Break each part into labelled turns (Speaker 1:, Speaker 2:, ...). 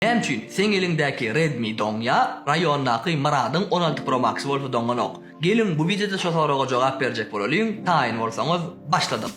Speaker 1: Näme üçin seň eliňdäki Redmi doň ýa raýondaky Myradyň on alty pro max bolsa doňanok? Geliň bu wideoda şo soraga jogap berjek bolalyň, taýyn bolsaňyz başladyk.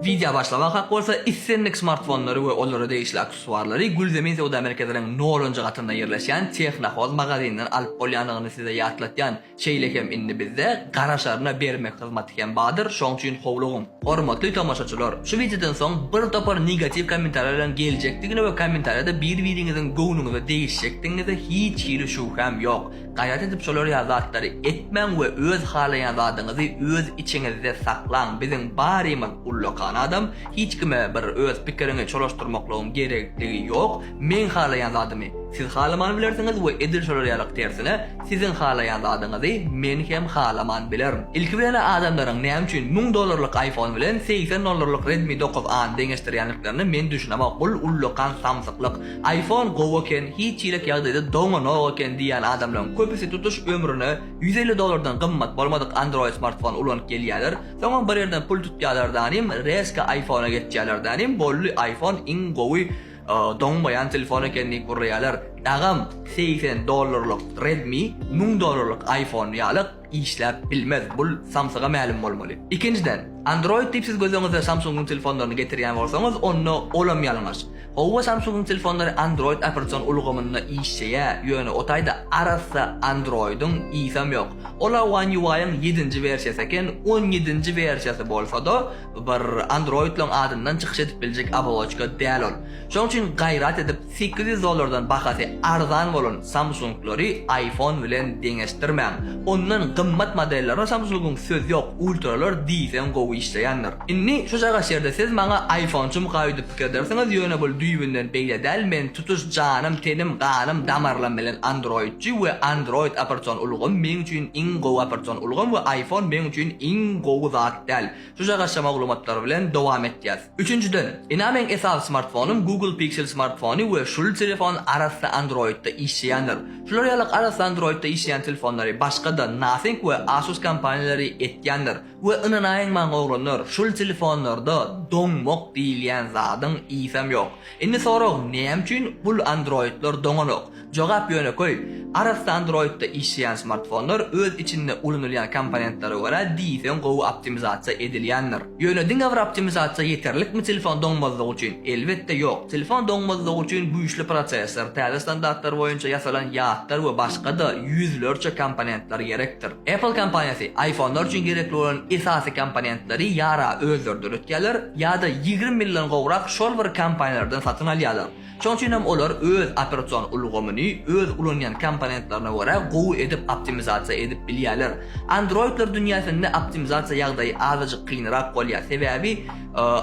Speaker 1: Wideo başlamak hak bolsa islendik smartfonlary we olara degişli aksesuarlary Gülzemin söwda merkeziniň nolunjy gatynda ýerleşýän Tehnohoz magazinden alyp bolýandygyny size ýatlatýan. Şeýle hem indi bizde garaşaryna bermek hyzmaty hem badyr, şoň üçin howlugyň. Hormatly tomaşaçylar, şu wideodan soň bir topar negatiw kommentariýa bilen geljekdigine we kommentariýada bir-biriňiziň göwnüňize degişjekdigiňize hiç hili şübhäm ýok. Gaýrat edip şolar ýaly zatlary etmäň we öz halaýan zadyňyzy öz içiňizde saklaň. Biziň barymyz ullakan adam, hiç kime bir öz pikiriňi çolaşdyrmaklygyň gerekdigi ýok. Meň halaýan zadymy siz halaman bilersiňiz we edil şolar ýalyk tersine, siziň halaýan zadyňyzy men hem halaman bilerin. Ilki bilen-ä adamlaryň näme üçin müň dollarlyk iPhone bilen segsen dollarlyk Redmi dokuz A-ny deňeşdirýändiklerine men düşünemok, bul ullakan samsyklyk. Iphone gowy eken, hiç çilek ýagdaýda doňanok eken diýýän adamlaryň köpüsi tutuş ömrüne ýüz elli dollardan gymmat bolmadyk Android smartfon ulanyp gelýäler, soňam bir ýerden pul tutýalardanym rezko iPhone-a geçýälerdanym boldy iPhone iň gowy Doňmaýan telefon eken diýip urýalar. Dagam segsen dollarlyk Redmi müň dollarlyk iPhone ýalyk işläp bilmez bul samsyga mälim bolmaly. Ikinjiden Android diýip siz göz öňüňize Samsungyň telefonlaryny getirýän bolsaňyz onda olam ýalňyş. Howwa Samsungyň telefonlary Android operasion ulgamynda işjeýä ýöne o taýda arassa Androidyň ysam ýok. Ola One UI-yň ýedinji wersiýasy eken on ýedinji wersiýasy bolsada Bir androidlaň adyndan çykyş edip biljek oboloçka däl ol. Şoň üçin gaýrat edip sekiz ýüz dollardan bahasy arzan bolan Samsunglary iPhone bilen deňeşdirmäň. Ondan gymmat modellerine Samsungyň söz ýok, ultralar diýseň gowy işleýändir. Indi şu çagaş ýerde siz maňa iPhoneçym gaýudyp pikir edersiňiz ýöne bul düýbünden beýle däl men tutuş janym tenim ganym damarlam bilen androidçi we android opertsion ulgam meň üçin iň gowy opertsion ulgam we iPhone meň üçin iň gowy zat. Däl. Şu jagasja maglumatlar bilen dowam etýäs. Üçünjiden, ina meň esasy smartfonym Google Pixel smartfony we şul telefon arassa Android-da işleýändir. Şular ýalyk arassa Android-da işleýän telefonlary başga-da Nothing we Asus kompaniýalary etýändir. We ynanaýyň maň oglanlar, şul telefonlarda doňmak diýilýän zadyň isem ýok. Indi sorag, näme üçin bul Android-lar doňanok? Jogap ýönekeý, arassa Android-da işleýän smartfonlar öz içinde ulanylýan komponentlere görä diýseň gowy optimizasiýa edilýändir. Ýöne diňe bir optimizasiýa ýeterlikmi telefon doňmazlygy üçin? Elbetde ýok. Telefon doňmazlygy üçin güýçli prosessor, täze standartlar boýunça ýasalan ýatlar we başga-da ýüzlerçe komponentler gerekdir. Apple kompaniýasy iPhone-lar üçin gerekli bolan esasy komponentleri ýa-ra özleri döretýärler, ýa-da ýigrimi ýyldan gowrak şol bir kompaniýalardan satyn alýarlar. Şonuň üçin hem olar öz operasion ulgamyny öz ulanýan komponentlerine görä gowy edip optimizasiýa edip bilýärler. Androidler dünýäsinde optimizasiýa ýagdaýy azajyk kynrak bolýar, sebäbi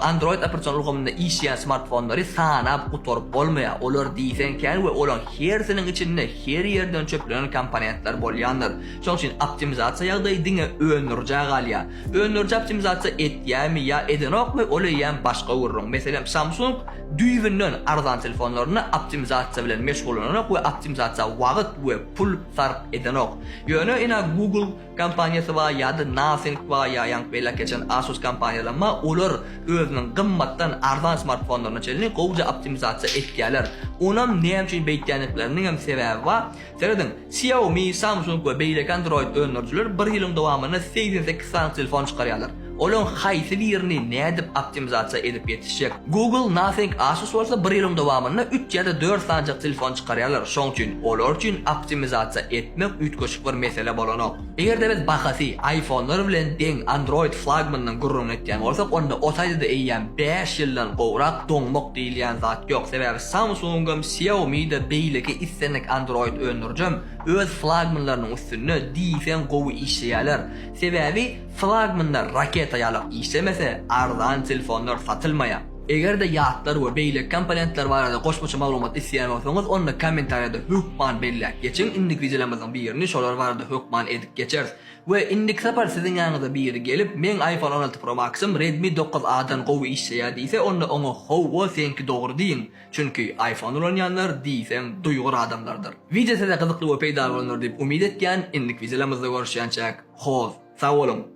Speaker 1: Android operasion ulgamynda işleýän smartfonlary sanap gutaryp bolmaýar, olar diýseň kän we olaryň hersiniň içinde her ýerden çöplenen komponentler bolýandyr. Şonuň üçin optimizasiýa ýagdaýy diňe öndürijä galýar. Öndüriji optimizasiýa etýärmi ýa edenokmy, ol eýýäm başga gürrüň. Meselem, Samsung Düýbünden arzan telefonlaryny optimizasiýa bilen meşgullanak we optimizasiýa wagyt we pul sarp edenok. Ýöne ina Google kompaniýasy bar ýa-da Nothing bar ýa ýaňky beýläk geçen Asus kompaniýalam bar, olar özüniň gymmatdan arzan smartfonlaryna çenli gowja optimizasiýa etýärler. Onam näme üçin beýtýändikleriniňem sebäbi bar. Serediň, Xiaomi, Samsung we beýleki Android öndürijiler bir ýylyň dowamynda segsen sekiz sany telefon çykarýarlar. Olaryň haýsy birini nädip optimizasiýa edip ýetişjek? Google, Nothing, Asus bolsa bir ýylyň dowamynda üç ýa-da dört sanjak telefon çykarýarlar, şoň üçin olar üçin optimizasiýa etmek üýtgeşik bir mesele bolanok. Eger-de biz bahasy iPhone-lar bilen deň Android flagmanynyň gürrüňini etýän bolsak, onda o taýda-da eýýäm bäş ýyldan gowrak doňmak diýilýän zat ýok. Sebäbi Samsung-am, Xiaomi-de, beýleki islendik Android öndürijem öz flagmanlarynyň üstünde diýseň gowy işleýärler. Sebäbi flagmanlar raketa ýalak işlemese, arzan telefonlar satylmaýar. Eger-de ýatlar we beýleki komponentler barada goşmaça maglumat isleýän bolsaňyz, onda kommentariýada hökman belläp geçiň, indiki wideolarymyzyň birini şolar barada hökman edip geçeris. We indiki sapar siziň ýanyňyza biri gelip, meň iPhone on alty Pro Max-ym Redmi dokuz A-dan gowy işleýär diýse, onda oňa Hawa, seňki dogry diýiň, çünki iPhone ulanýanlar diýseň duýgur adamlardyr. Wideo size gyzykly we peýdaly bolandyr diýip umyt etýän, indiki wideolarymyzda görüşýänçäk, hoz, sag boluň!